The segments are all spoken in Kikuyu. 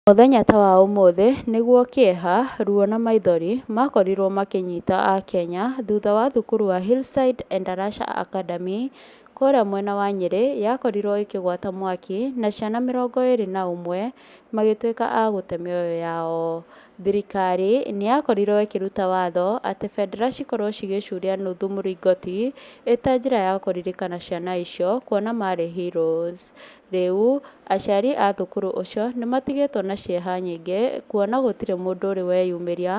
Mũthenya ta wa ũmũthĩ nĩguo kĩeha, ruo na maithori makorirwo makĩnyita Akenya thutha wa thukuru wa Hillside Endarasha Academy kũrĩa mwena wa Nyĩrĩ yakorirwo ĩkĩgwata mwaki na ciana mĩrongo ĩrĩ na ũmwe magĩtuĩka a gũte mĩoyo yao. Thirikari nĩ yakorirwo ĩkĩruta watho atĩ bendera cikorwo cigĩcuria nuthu mũringoti ĩta njĩra ya kũririkana ciana icio kuona marĩ heroes. Rĩu, aciari a thũkũrũ ũcio nĩ matigĩtwo na cieha nyingĩ kuona gũtirĩ mũndũ ũrĩ weyumĩria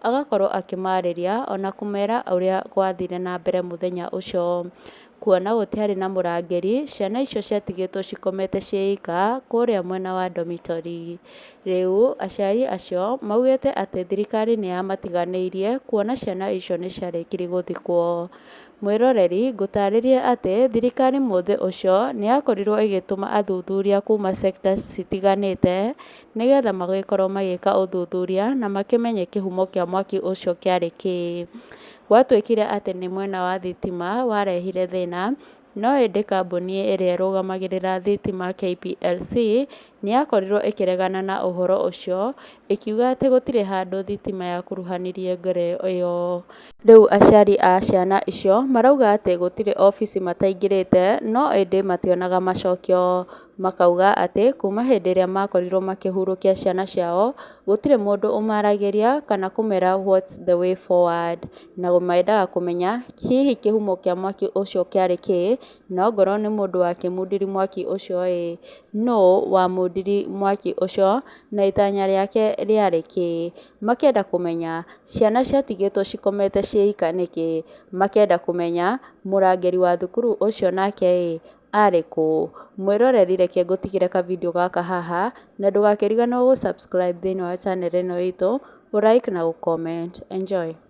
agakorũo akĩmaarĩria o na kũmera ũrĩa gwathire na mbere mũthenya ũcio. Kuona gũtiarĩ na mũrangĩri, ciana icio ciatigĩtwo cikomete ciĩ ika kũrĩa mwena wa dormitory. Rĩu, aciari acio maugĩte atĩ thirikari nĩ yamatiganĩirie kuona ciana icio nĩ ciarĩkiri gũthikwo. Mwĩroreri, ngũtaarĩrie atĩ thirikari mũthĩ ũcio nĩ yakorirũo ĩgĩtũma athuthuria kuuma cekita citiganĩte nĩ getha magĩkorũo magĩka ũthuthuria na makĩmenye kĩhumo kĩa mwaki ũcio kĩarĩ kĩĩ. Gwatuĩkire atĩ nĩ mwena wa thitima warehire thĩna, no ĩndĩ kambuni ĩrĩa ĩrũgamagĩrĩra thitima, KPLC, Nĩ yakorirũo ĩkĩregana na ũhoro ũcio, ĩkiuga atĩ gũtirĩ handũ thitima yakuruhanirie ngero ĩyo. Rĩu aciari a ciana icio marauga atĩ gũtirĩ ofici mataingĩrĩte no ĩndĩ mationaga macokio. Makauga atĩ kuuma hĩndĩ ĩrĩa makorirũo makĩhurũkia ciana ciao, gũtirĩ mũndũ ũmaragĩria kana kũmera what's the way forward. Na mendaga kũmenya hihi kĩhumo kĩa mwaki ũcio kĩarĩ kĩĩ, na ongorũo nĩ mũndũ wakĩmundiri mwaki ũcio ĩĩ. nũũ wamũũmbire mwaki ũcio, na itanya rĩake rĩarĩ kĩĩ. Makenda kũmenya, ciana ciatigĩtwo cikomete ciĩ ika nĩkĩ. Makenda kũmenya, mũrangĩri wa thukuru ũcio nake ĩ, arĩ kũ. Mwĩroreri reke ngũtigĩre ka video gaka haha, na ndũgakĩriganĩrwo gũ subscribe thĩinĩ wa channel ĩno itũ, gũ like na gũ comment. Enjoy.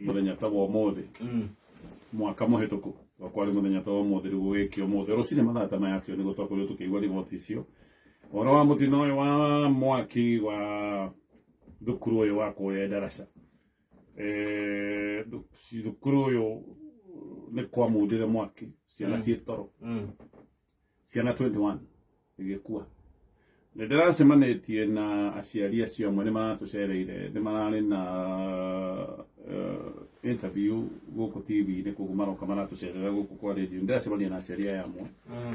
muthenya ta wa umuthi mm. mwaka muhituku wa kwari muthenya ta wa umuthi riu gugikio umuthi rucini mathaa ta maya acio ni gutwakorio tukiigua riboti icio uhoro wa mutino uyu wa mwaki wa thukuru ũyũ wa kũrĩa ndaraca Eh, thu- ci- thukuru ũyũ nĩ kwa mundĩre mwaki ciana ciĩ toro Mm. ciana 21 igĩkua nĩ ndĩracemanĩtie na aciari acio amwe nĩ maratũcereire nĩ mararĩ na eh, interview gũkũ tv-inĩ koguo maroka maratũcerera gũkũ kwa radio nĩ ndĩracemania na aciari aya amwe Mm.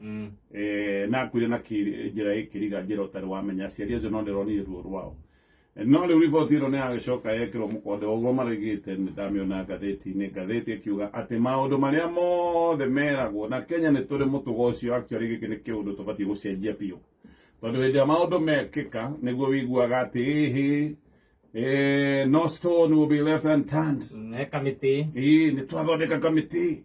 mm. eh, na kwire na njira ikiriga njira utari wamenya aciari acio no ndironire ruo rwao eh, no riu riboti ino ni yagicoka yekirwo mukonde uguo marigite ndamiona ngatheti-ini ngatheti ikiuga ati maundu maria mothe meragwo na kenya ni turi mutugo ucio actually giki ni kiundu tubatie gucenjia biu tondu hindi ya maundu mekika niguo wiguaga ati hihi eh, no stone will be left unturned ne kamiti ii ni twathondeka kamiti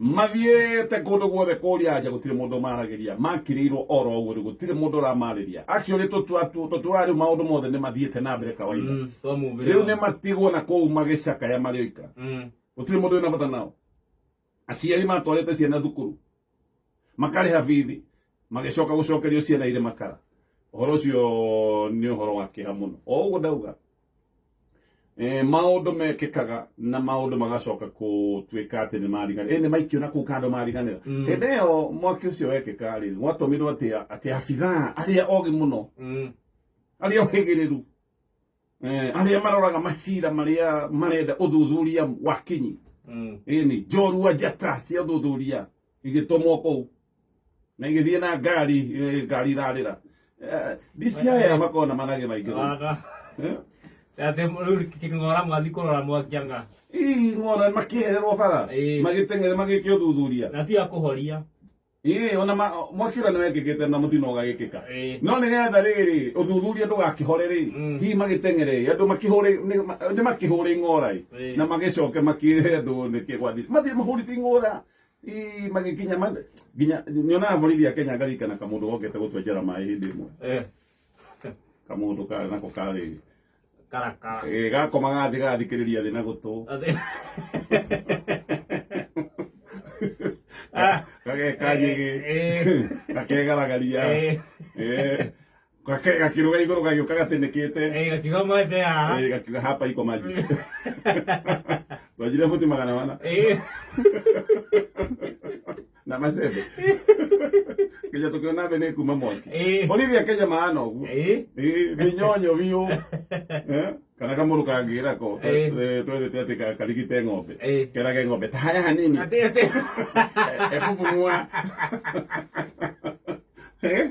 mathiĩte kũndũ guothe kũria anja gũtirĩ mũndũ maragĩria makĩrĩirwo oro ũguo rĩu gũtirĩ mũndũ ũramarĩria actually tũtũra rĩu maũndũ mothe nĩ mathiĩte na mbere kawaida Mm, kwa mũmbĩre rĩu wao. nĩ matigwo na kũu magĩcakaya marĩ oika Mm, gũtirĩ mũndũ wĩna bata nao aciari matwarĩte ciana thukuru makarĩha bithi magĩcoka gũcokerio ciana irĩ makara ũhoro ũcio nĩ ũhoro wa kĩha mũno o ũguo ndauga eh, maundu mekikaga na maundu magacoka kutuika ati ni mariganira eh, ni maikio na kuu kando mariganira Mm. hindi iyo mwaki ucio wekika ri gwatumirwo ati ati abithaa aria ogi muno Mm. aria ohigiriru eh, aria maroraga macira maria marenda uthuthuria wakinyi Mm. ini njorua njata cia uthuthuria igitũmwo kũu na igĩthiĩ na ngari eh, ngari irarĩra Eh, ndisi aya makoragwo na manage maingĩ mũno. Wara. Eh? Ate ruri kingora mwathi kurora mwakianga. Ii, ng'ona makĩhererwo bara Ĩĩ. magĩteng'ere magĩkĩ ũthuthuria Na tiga kuhoria. Ĩĩ, ona ma- mwaki ũrĩa nĩwekĩkĩte na mũtino ũgagĩkĩka Ĩĩ. no nĩgetha rĩrĩ ũthuthuria ndũgakĩhore rĩ Mm. hihi magĩteng'ere andũ makĩhũre nĩ- ma- nĩmakĩhũre ing'ora ĩ, Ĩĩ. na magĩcoke makĩre andũ nĩkĩ gwathi mathiĩ mahũrĩte ing'ora Ii magikinya ma nginya nyonaga borithi a Kenya ngaririkana kamundu gokete gutwenjera maĩ hindi imwe Eh. kamundu ka nako karĩ Karakara. ĩ gakoma gathi gathikĩrĩria thĩ na gũtũ Ate- Ah. gagekanyĩgĩ Eh. gakegaragaria Eh. Eh, Gake gakiruga iguru gagiuka gatinĩkĩte. Eh, gakiuga maĩ mbere haha. Eh, gakiuga hapa iko maji. Wajire futi magana wana. Eh. Na macembe. Kenya tukiona thĩ nĩ kuma mwaki. Eh. Bolithi akenya maana ũguo. Eh. Eh, mĩnyonyo biũ. Eh? Kana kamũrũ kangĩra ko. Eh. Eh, Twethete atĩ ka- karigite ng'ombe. Eh. Kerage ng'ombe. Tahaya hanini. Ate ate. Ebubumua. Eh?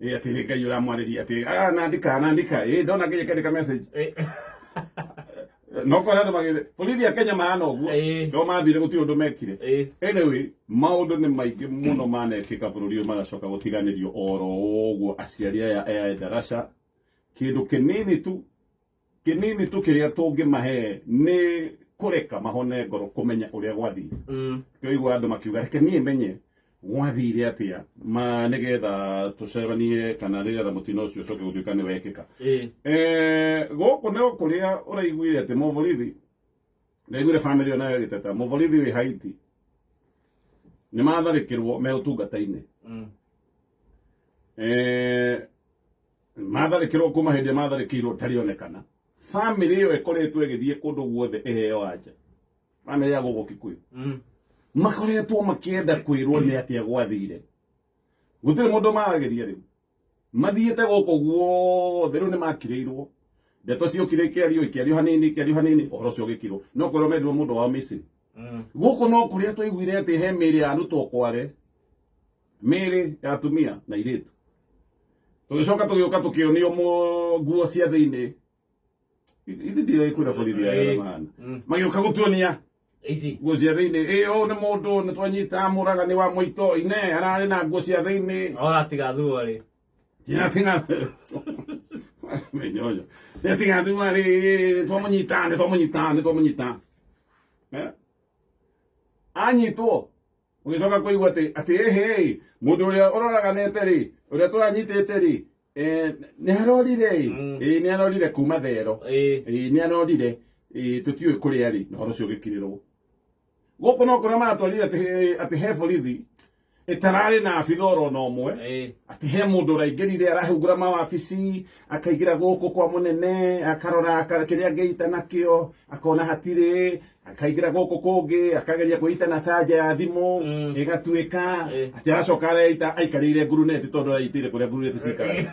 eh ati ni ngai uramwarĩria ati ah nandika nandika eh ndona ngai akandika message Eh, no kwa andå magä borithi a kenya mahana å guo Eh. no mathire gå tirä å ndå mekire eh, anyway maundu ni maingi muno manekika bururi uyu magacoka gutiganirio oro uguo aciari aya aya ndarasha kindu kinini tu kĩnini tu kĩrĩa tũngĩmahe nĩ kũreka mahone ngoro kũmenya ũrĩa gwathiĩ Mm. kĩoigua andũ makiuga reke niĩ menye gwathire atĩa ma nĩgetha tũcemanie kana nĩgetha mũtino ũcio ũcoke gũtuĩka nĩ wekĩka Eh. Eh, gũkũ nĩ kũrĩa ũraiguire atĩ mũborithi ndaiguire bamĩrĩ ĩyo nayo ĩgĩteta mũborithi wĩ haiti nĩ matharĩkĩrwo me ũtungata-inĩ Mm. Eh, matharĩkĩrwo kuma hĩndĩ matharĩkĩirwo tarĩonekana family ĩyo ĩkoretwo ĩgĩthiĩ kũndũ guothe ĩheo anja family ya gũkũ kikuyu mm. makoretwo makĩenda kwĩrwo nĩ atĩa gwathire gũtirĩ mũndũ maragĩria rĩu mathiĩte gũkũ guothe rĩu nĩ makirĩirwo ndeto ciokire ikĩario ikĩario hanini ikĩario hanini ũhoro ũcio ũgĩkirwo no kwĩrwo mendirwo mũndũ wao missing mm. gũkũ no kũrĩa twaiguire atĩ he mĩĩrĩ ya arutwo kware mĩĩrĩ ya atumia na irĩtu tũgĩcoka tũgĩũka tũkĩonio nguo cia thĩinĩ ithe ndirai kwĩra borithi ya maana mm. magĩũka gũtuonia nguo cia thĩinĩ ĩ ũũ nĩ mũndũ nĩ twanyita mũraga nĩ wa mũito ine ararĩ na nguo cia thĩinĩ oratigathurwo rĩ menyoyo nĩatigathurwo rĩ nĩ twamũnyita nĩ twamũnyita nĩ twamũnyita eh? anyitwo ũgĩcoka kũigua atĩ atĩ ĩhĩ-ĩ mũndũ ũrĩa ũroraganĩte-rĩ ũrĩa tũranyitĩte-rĩ eh, nĩ arorire-ĩ Mm. ĩĩ nĩ arorire kuma thero Eh. ĩĩ nĩ arorire ĩĩ tũtiũĩ kũrĩa rĩ na ũhoro ũcio ũgĩkirĩrwo gũkũ no kũrĩa maratwarire atĩ he- atĩ he borithi ĩtararĩ na abitha oro na ũmwe Eh. atĩ he mũndũ ũraingĩrire arahungura mawabici akaingĩra gũkũ kwa mũnene akarora aka- kĩrĩa angĩita nakĩo akona hatirĩ akaingĩra gũkũ kũngĩ akageria kwĩita na canja ya thimũ Mm. ĩgatuĩka Eh. atĩ aracoka areita aikarĩire nguruneti tondũ araitĩire kũrĩa nguruneti cikaraga